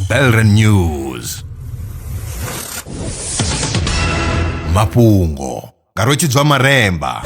Belren News mafhungo nga rwetshidzwa maremba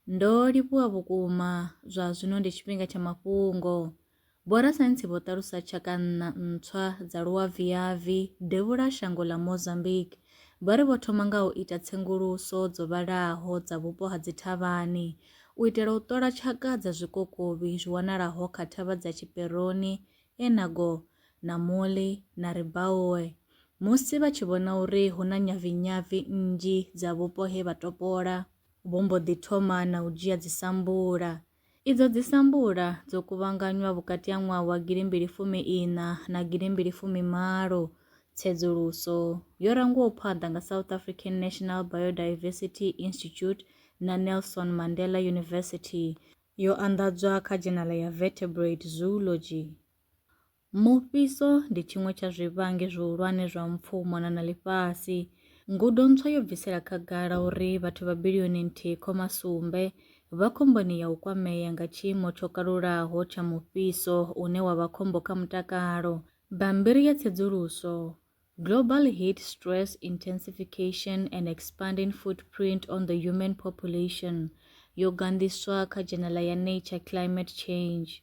Ndo livhuwa vhukuma zwa zwino ndi tshifhinga tsha mafhungo. Vhorasaintsi vho ṱalusa tshaka nṋa ntswa dza luaviavi devhula shango ḽa Mozambique. Vha ri vho thoma nga u ita tsenguluso dzo vhalaho dza vhupo ha dzithavhani u itela u ṱola tshaka dza zwikokovhi zwi wanalaho kha thavha dza Chiperoni, Enago, Namuli na Ribaoe musi vha tshi vhona uri hu na nyavinyavi nnzhi dza vhupo he vha topola. Vho mbo ḓi thoma na u dzhia dzisambula. Idzo dzisambula dzo kuvhanganywa vhukati ha ṅwaha wa gilimbili fumi iṋa na gilimbili fumi malo. Tsedzuluso yo rangwaho phanḓa nga South African National Biodiversity Institute na Nelson Mandela University yo anḓadzwa kha dzhenala ya Vertebrate Zoology. Mufhiso ndi tshiṅwe tsha zwivhangi zwihulwane zwa mpfu u mona na ḽifhasi. Ngudo ntswa yo bvisela khagala uri vhathu vha bilioni nthihi khoma sumbe vha khomboni ya u kwamea nga tshiimo tsho kalulaho tsha mufhiso une wa vha khombo kha mutakalo. Bammbiri ya tsedzuluso, Global Heat Stress Intensification, An Expanding Footprint on the Human Population, yo ganḓiswa kha dzhenala ya Nature Climate Change.